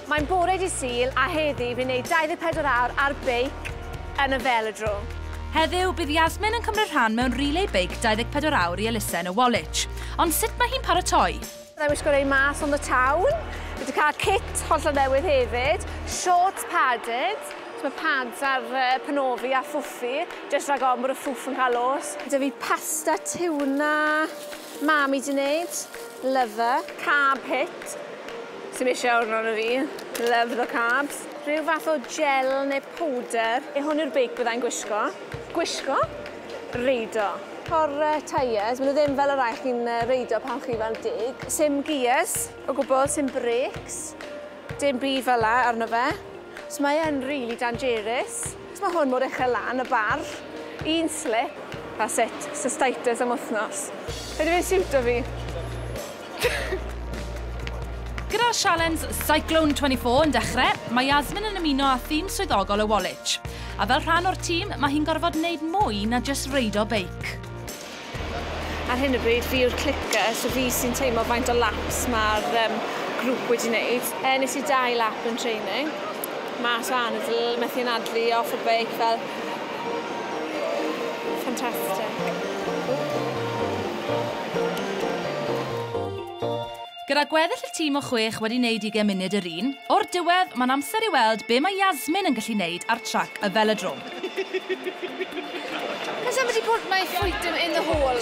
Mae'n bore dydd Sul a heddi fi'n neud 24 awr ar beic yn y Velodrome. Heddiw, bydd Yasmin yn cymryd rhan mewn relay beic 24 awr i elusen y Woolwich. Ond sut mae hi'n paratoi? Byddai'n wisgo rei mas on the town. Fi wedi cael kit hollol newydd hefyd, shorts padded, mae pads ar uh, penofi a ffwffi, just rhag ofn bod y ffwff yn cael os. Gyda fi pasta, tiwna, Mam i di neud. Love her. Carb hit. Sdim isie hwn arno fi. Love the carbs. Rhyw fath o gel neu powder. Ie hwn yw'r beic byddai'n gwisgo. Gwisgo? Reido. Por tyres, maen nhw ddim fel y rhai chi'n reidio pan chi fel deg. Sim gears o gwbl, sim brakes, dim byd fel 'na arno fe. So mae e'n rili danjerus. Sut mae hwn mor uchel lan y bar? Un slip a sut? Cystitis am wythnos. Ydy fe'n siwto fi? Gyda sialens Cyclone 24 yn dechrau, mae Yasmin yn ymuno â thîm swyddogol y Woolwich. A fel rhan o'r tîm, mae hi'n gorfod wneud mwy na jyst reido beic. Ar hyn o bryd fi yw'r clicker, so fi sy'n teimlo faint o laps mae'r um, grŵp wedi wneud. E, nes i dau lap yn training. Mas o anadl, methu anadlu off y beic fel... Fantastic. Gyda gweddill y tîm o chwech wedi neud ugain munud yr un, o'r diwedd, mae'n amser i weld be mae Yasmin yn gallu neud ar trac y Velodrome. Has somebody put my foot in in the hole?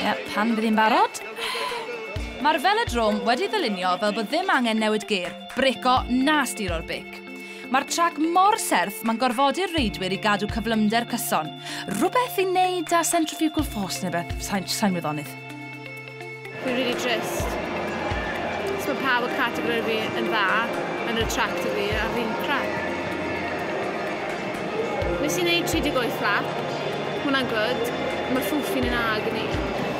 Ie, pan fydd hi'n barod. Mae'r Velodrome wedi ddylunio fel bod ddim angen newid gêr, brêco na stiro'r beic. Mae'r trac mor serth mae'n gorfodi'r reidwyr i gadw cyflymder cyson. Rhywbeth i neud â centrifugal force neu beth, sai'n wyddonydd. Fi'n really trist. So mae pawb y categori fi yn dda, yn y tract y fi, a fi'n crap. Nes i'n neud 38 lap, hwnna'n good, mae ffwffi'n yn ag yn i.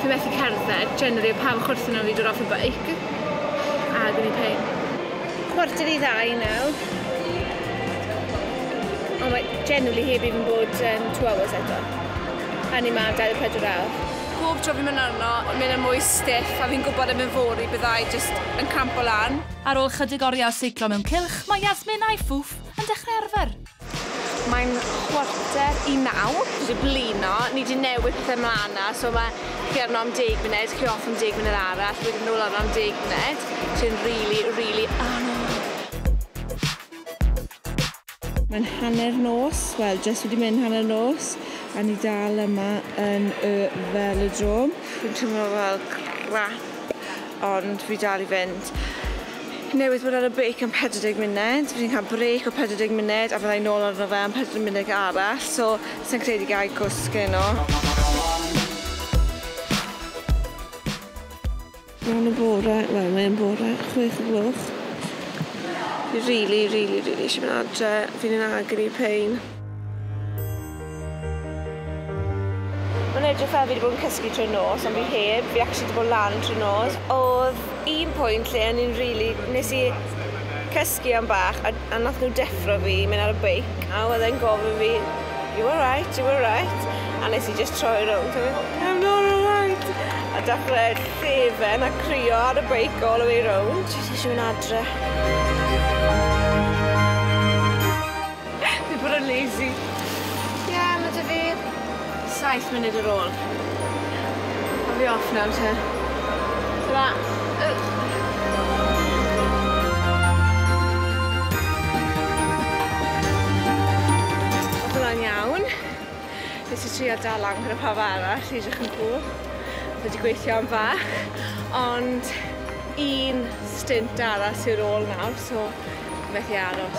Fi methu cerdded, generally o pawb chwrthyn nhw fi dod off y bike. Agony pain. Cwarter i ddau nawr. Ond mae generally heb even bod um, two hours eto. A ni ma am 24 awr. Pob tro fi'n mynd arno, mae yna mwy stiff a fi'n gwybod erbyn fory byddai jyst yn campo lan. Ar ôl chydig oriau o seiclo mewn cylch, mae Yasmin a'i fwf yn dechrau arfer. Mae'n chwarter i naw. Dwi 'di blino, ni 'di newid pethe mlan 'na, so ma' chi arno am deg munud, chi off am deg munud arall, wedyn nôl arno am deg munud, sy'n rili, rili anodd. Mae'n hanner nos, wel jyst wedi mynd hanner nos a ni dal yma yn y Velodrome. Fi'n teimlo fel crap ond fi dal i fynd. Newydd bod ar y beic am 40 munud, fi'n cael brêc o 40 munud a fyddai nôl arno fe am 40 munud arall, so sa'n credu gai cwsg heno. Mae'n y bore, wel mae'n bore chwech o gloch. Fi rili, rili, rili eisiau mynd adre. Fi'n yn agony pain. Mae'n edrych fel fi wedi bod yn cysgu trwy'r nos, ond fi heb. Fi actually wedi bod lan trwy'r nos. Oedd un pwynt lle o'n i'n rili... Nes i cysgu am bach a a nath nhw deffro fi i mynd ar y beic a oedd e'n gofyn fi you alright, you alright a nes i just troi rownd a mynd I'm not alright a dechrau llefen a crio ar y beic all the way round jyst eisiau mynd adre Fi bod yn lazy Ie ma' 'da fi Saith munud ar ôl. A fi off nawr te. Tara. Oedd hwnna'n iawn. Nes i trio dal lan gyda pawb arall i edrych yn cwl. Oedd wedi gweithio am fach. Ond un stint arall sydd ar ôl nawr, so methu aros.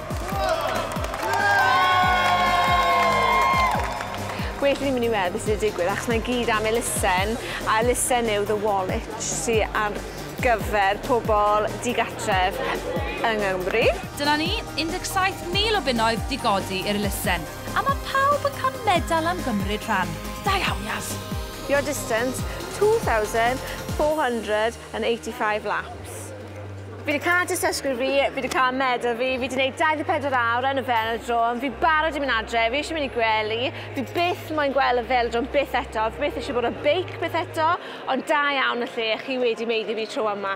Well i fi mynd i weld beth sydd wedi digwydd achos mae gyd am elusen a elusen yw the wallet sy ar gyfer pobl digartref yng Nghymru. Dyna ni, 17,000 o bunnoedd 'di godi i'r elusen, a ma' pawb yn cael medal am gymryd rhan. Da iawn Yaz! Your distance, 2,400 yn 85 laps. Fi wedi cael dystysgrif fi, fi wedi cael medal fi, fi wedi gwneud 24 awr yn y felodrom, fi barod i mynd adre, fi eisiau mynd i gwely, fi byth moyn gweld y felodrom byth eto, fi byth eisiau bod ar beic byth eto, ond da iawn y lle chi wedi meiddi fi tro yma.